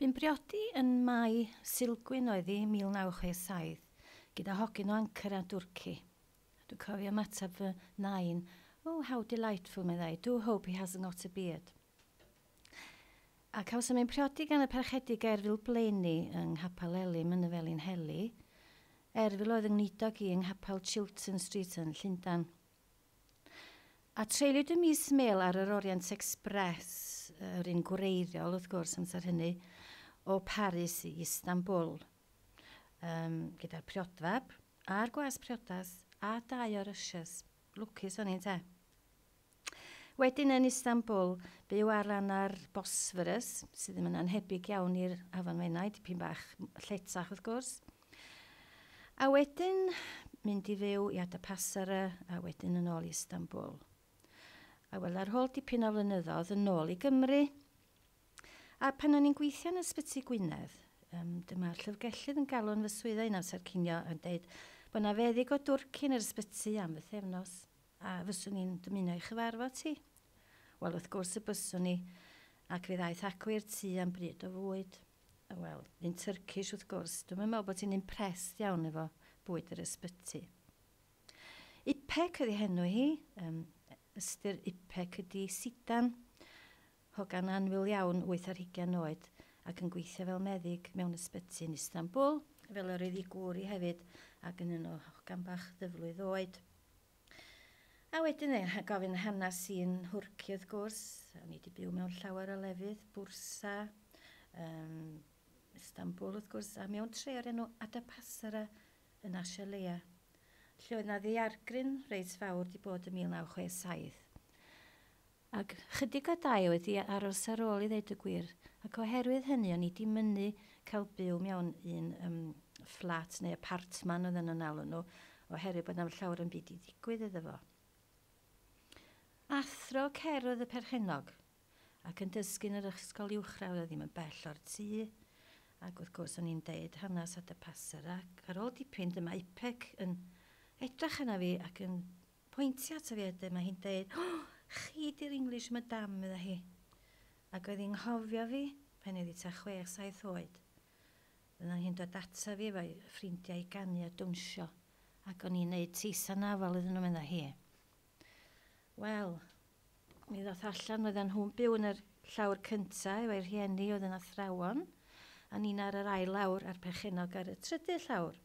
Bu'n briodi yn Mai, Sulgwyn oedd hi, 1967, gyda hogyn o Ankara, Dwrci. Dwi'n cofio ymateb fy nain, 'Oh, how delightful', meddai, 'do hope he hasn't got a beard'. A cawsom ein priodi gan y Parchedig Gaerfil Blaeni yng Nghapel Elym yn y Felinheli. Erfil oedd 'y ngweinidog i yng Nghapel Chilton Street yn Llundain. A treuliwyd y mis mêl ar yr Orient Express, yr un gwreiddiol, wrth gwrs, amser hynny, o Paris i Istanbul, um, gyda'r priodfab, a'r gwas priodas, a dau o'r ushers. Lwcus o'n i'n te. Wedyn yn Istanbul, byw ar ran ar Bosphorus, sydd ddim yn anhebyg iawn i'r Afon Menai, dipyn bach lletach wrth gwrs. A wedyn mynd i fyw i Adapasara a wedyn yn ôl i Istanbul. A wel, ar ôl dipyn o flynyddoedd yn ôl i Gymru, a pan o'n i'n gweithio yn Ysbyty Gwynedd, um, dyma'r llyfrgellydd yn galw'n fy swyddau yn amser cinio yn dweud bod yna feddyg o dwrci yn yr ysbyty am fythefnos. A fyswn i'n dymuno ei chyfarfod hi? Wel, wrth gwrs y byswn i, ac fe ddaeth acw i'r tŷ am bryd o fwyd. Wel, un Tyrcish, wrth gwrs. Dwi'm yn meddwl bod hi'n impressed iawn efo bwyd yr ysbyty. Ipek ydi henw hi, yym, ystyr Ipek ydi sidan. Hogan annwyl iawn, wyth ar hugain oed, ac yn gweithio fel meddyg mewn ysbyty yn Istanbul, fel yr oedd ei gŵr i hefyd, ac yn un o hogan bach ddyflwydd oed. A wedyn fe gath gofyn hanas i yn Nhwrci wrth gwrs, o'n i di byw mewn llawer o lefydd, Bwrsa, um, Istanbul wrth gwrs, a mewn tre o'r enw Adapasara yn Asia Leia, lle oedd na ddiargryn reit fawr di bod yn 1967. Ac chydig o dai oedd i aros ar ôl i ddeud y gwir, ac oherwydd hynny o'n i di mynnu cael byw mewn un yym fflat neu apartman oedden nhw'n alw nhw, oherwydd bod na'm llawer o'm byd i ddigwydd iddo fo. Athro cerdd oedd y perchennog, ac yn dysgu yn yr ysgol uwchradd oedd ddim yn bell o'r tŷ, ac wrth gwrs o'n i'n deud hanes at y passer, ac ar ôl dipyn dyma Ipec yn edrach arna fi ac yn Pointio ato fi wedyn, mae hi'n deud, O, chi 'di'r English madam, medda hi. Ac oedd hi'n nghofio fi pan oedd hi tua chwech saith oed. Fyddan hi'n dod ata fi efo'i ffrindiau i ganu a dawnsio, ac o'n i'n neud teis anafal iddyn nhw, medda hi. Wel, mi ddoth allan fyddan nhw'n byw yn yr llawr cynta efo'i rhieni oedd yn athrawon, a ni'n ar yr ail lawr a'r perchennog ar y trydydd llawr.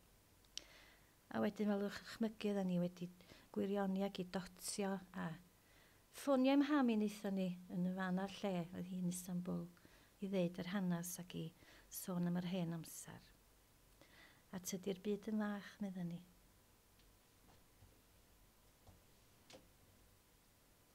A wedyn fel yw'ch chmygu oeddan ni wedi gwirioni ag i dotio a ffonio i mham i naethon ni yn y fan a'r lle oedd hi'n Istanbul i ddeud yr hanas ag i sôn am yr hen amser. A tydi'r byd yn fach medda ni.